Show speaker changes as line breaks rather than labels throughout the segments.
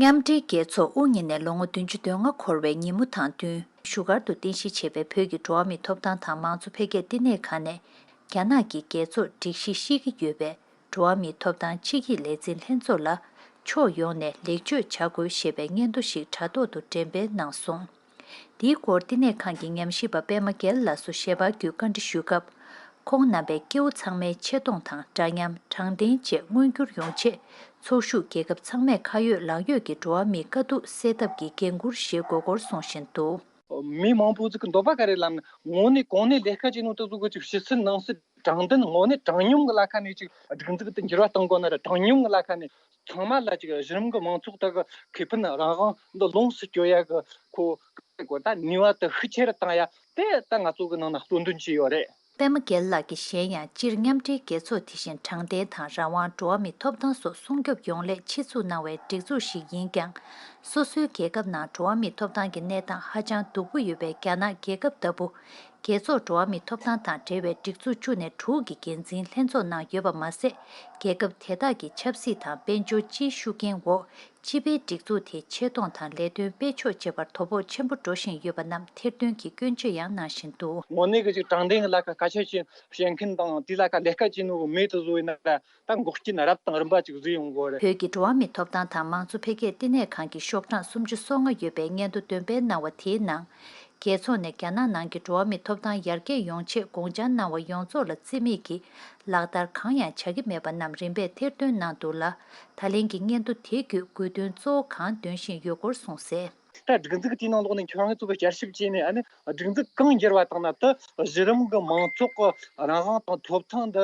མཉམ་འབྲེལ་རྒྱལ་ཚོགས་དབུ་བརྙེས་ནས་ལོ་ངོ་བདུན་ཅུ་དོན་ལྔ་འཁོར་བའི་ཉིན་མོ་དང་བསྟུན། བཞུགས་སྒར་དུ་རྟེན་གཞི་བྱས་པའི་བོད་ཀྱི་འགྲོ་བ་མིའི་ཐོབ་ཐང་དང་མང་གཙོ་འཕེལ་རྒྱས་བསྟི་གནས་ཁང་ནས། རྒྱ་ནག་གི་རྒྱལ་ཚོགས་སྒྲིག་གཞི་བཤིག་གི་ཡོད་པས་འགྲོ་བ་མིའི་ཐོབ་ཐང་ཆིག་ཡིག་ལས་འཛིན་ལྷན་ཚོགས་ལ། ཕྱོགས་ཡོངས་ནས་ལེགས་བཅོས་བྱ་དགོས་ཞེས་པའི་སྙན་ཐོ་ཞིག་དྲ་ཐོག་ཏུ་འགྲེམས་སྤེལ་གནང་སོང། འདིའི་སྐོར་བསྟི་གནས་ཁང་གི་ཉམས་ཞིབ་པ་པད་མ་རྒྱལ་ལགས་སུ་ཞལ་པར་བརྒྱུད་བཀའ་འདྲི་ཞུས་སྐབས། ཁོང་རྣམ་པས་སྐྱེ་བོ་ཚང་མའི་ཆེ་མཐོང་དང་འདྲ་མཉམ་དྲང་བདེན་བཅས་མངོན་འགྱུར་ཡོང་ཆེད་ཚོགས་ཞུགས་རྒྱལ་ཁབ་ཚང་མས་ཁ་ཡོད་ལག་ཡོད་ཀྱིས་འགྲོ་བ་མིའི་དཀའ་སྡུག་སེལ་ཐབས་ཀྱི་འགན་འཁུར་བཞེས་དགོས་སྐོར་གསུངས་བཞིན་དུ། མི་མང་པོ་ཚོས་
འདོད་པ་ག་རེ་ལབ་ན་ངོ་ནས་གང་ནས་ལས་ཀ་ཅི་ནུས་ཏིག་བཟོ་དགོས་ཅིག་ཕྱི་སེར་ནང་སེར་དྲང་བདེན་ངོ་ནས་དྲང་སྙོམས་ཀྱི་བླ་ཁ་མེད་ཅིག་སྒྲིག་འཛུགས་དེ་འགྱུར་བ་གཏོང་དགོས་ན་ར་དྲང་སྙོམས་ཀྱི་བླ་ཁ་མེད་ཚང་མ་ལ་ཅིག་གཞི་རིམ་གྱི་མང་ཚོགས་དག་གི་ཁེ་ཕན་རང་དབང་འདི་ལོངས་སུ་སྤྱོད་ཡག་གི་ཁོ་ཐག་གི་སྒོ་ནས་ནུས་བ་དེ་ཤུགས་ཆེ་རུ་བཏང་ཡག་དེ་ལྟ་ང་ཚོ་གི་ནང་ན་གཙོ་འདོན་གྱི་ཡོད་རེད། པད་མ་རྒྱལ་ལགས་ཀྱིས་
གཞན་ཡང་སྤྱིར་མཉམ་འབྲེལ་རྒྱལ་ཚོགས་དེ་བཞིན་དྲང་བདེན་དང་རང་དབང་འགྲོ་བ་མིའི་ཐོབ་ཐང་སོགས་སྲུང་སྐྱོབ་ཡོང་སླད་ཆེད་འཛུགས་གནང་བའི་སྒྲིག་འཛུགས་ཤིག་ཡིན་ཀྱང། སོ་སོའི་རྒྱལ་ཁབ་ནང་འགྲོ་བ་མིའི་ཐོབ་ཐང་གི་གནས་སྟངས་ཧ་ཅང་སྡུག་པོ་ཡོད་པས་རྒྱ་ནག་རྒྱལ་ཁབ་ལྟ་བུ། རྒྱལ་ཚོགས་འགྲོ་བ་མིའི་ཐོབ་ཐང་དང་འབྲེལ་བའི་སྒྲིག་འཛུགས་བཅུ་ནས་དྲུག་གི་འགན་འཛིན་ལྷན་ཚོགས་ནང་ཡོད་པ་མ་ཟད། རྒྱལ་ཁབ་དེ་དག་གི་ཆབ་སྲིད་དང་དཔལ་འབྱོར་སྤྱིའི་ཤུགས་རྐྱེན་འོག་སྤྱི་པའི་སྒྲིག་འཛུགས་དེ་ཆེ་མཐོང་དང་ལས་དོན་སྤེལ་ཕྱོགས་བཅས་པར་དོ་ཕོག་ཆེན་པོ་འགྲོ་བཞིན་ཡོད་པ་རྣམས་ཐེར་འདོན་གྱིས་སྐྱོན་བརྗོད་ཡང་གནང་བཞིན་འདུག། དངོས་གནས་ཀྱི་ཅིག་དྲང་བདེན་
གྱི་ལ་ཁ་ཁ་ཤས་ཀྱིས་བཤད་མཁན་དང་དེའི་ལ་ཁ་ལས་སྐལ་ཅན་ནོ་མེད་དུ་བཟོ་བའི་ནང་ལ་ད་འགོག་རྐྱེན་རབ་དང་རིམ་པ་ཅིག་བཟོས་ཡོང་དགོས། བོད་ཀྱི་འགྲོ་བ་མིའི་ཐོབ་ཐང་
དང་མང་གཙོ་འཕེལ་རྒྱས་བསྟི་གནས་ཁང་གི་ཤོག་གྲངས་སུམ་ཅུ་སོ་ལྔ་ཡོད་པའི་སྙན་ཐོ་འདོན་སྤེལ་གནང་བ་དེའི་ནང། རྒྱལ་ཚོགས་ནས་རྒྱ་ནག་ནང་གི་འགྲོ་བ་མིའི་ཐོབ་ཐང་ཡར་རྒྱས་ཡོང་ཆེད་དགོངས་འཆར་གནང་བ་ཡོངས་རྫོགས་ལ་བརྩི་མེད་ཀྱིས་ལག་བསྟར་གང་ཡང་བྱ་གི་མེད་པ་རྣམས་རིམ་པས་ཐེར་འདོན་གནང་འདུག་ལ། ད་ལན་གྱི་སྙན་ཐོ་དེ་བརྒྱུད་དགོས་འདུན་གཙོ་བོ་གང་འདོན་བཞིན་ཡོད་སྐོར་གསུངས་གསལ། ད་སྒྲིག་འཛུགས་དེའི་
ནང་ལོགས་ནས་ཁྱོད་རང་ཚོ་གི་བསྐྱར་ཞིབ་བྱས་ནས་སྒྲིག་འཛུགས་གང་བསྒྱུར་བ་དང་ནང་དུ་གཞི་རིམ་གྱི་མང་ཚོགས་ཀྱི་རང་དབང་དང་ཐོབ་ཐང་འདི་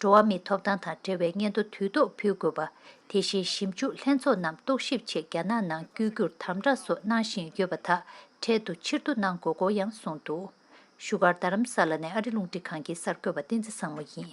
འགྲོ་བ་མིའི་ཐོབ་ཐང་དང་འབྲེལ་བའི་སྙན་ཐོ་དུས་ཐོག་ཕུལ་དགོས་པ། དེ་བཞིན་ཞིབ་འཇུག་ལྷན་ཚོགས་རྣམས་རྟོག་ཞིབ་ཆེད་རྒྱ་ནག་ནང་བསྐྱོད་རྒྱུར་དམ་བསྒྲགས་སོགས་གནང་བཞིན་ཡོད་པ་དག་འཕྲལ་དུ་ཕྱིར་བསྡུ་གནང་དགོས་སྐོར་ཡང་གསུངས་འདུག་བཞུགས་སྒར་རྡ་རམ་ས་ལ་ནས་ཨ་རི་རླུང་འཕྲིན་ཁང་གི་གསར་འགོད་པ་བསྟན་འཛིན་བཟང་མོ་ཡིན།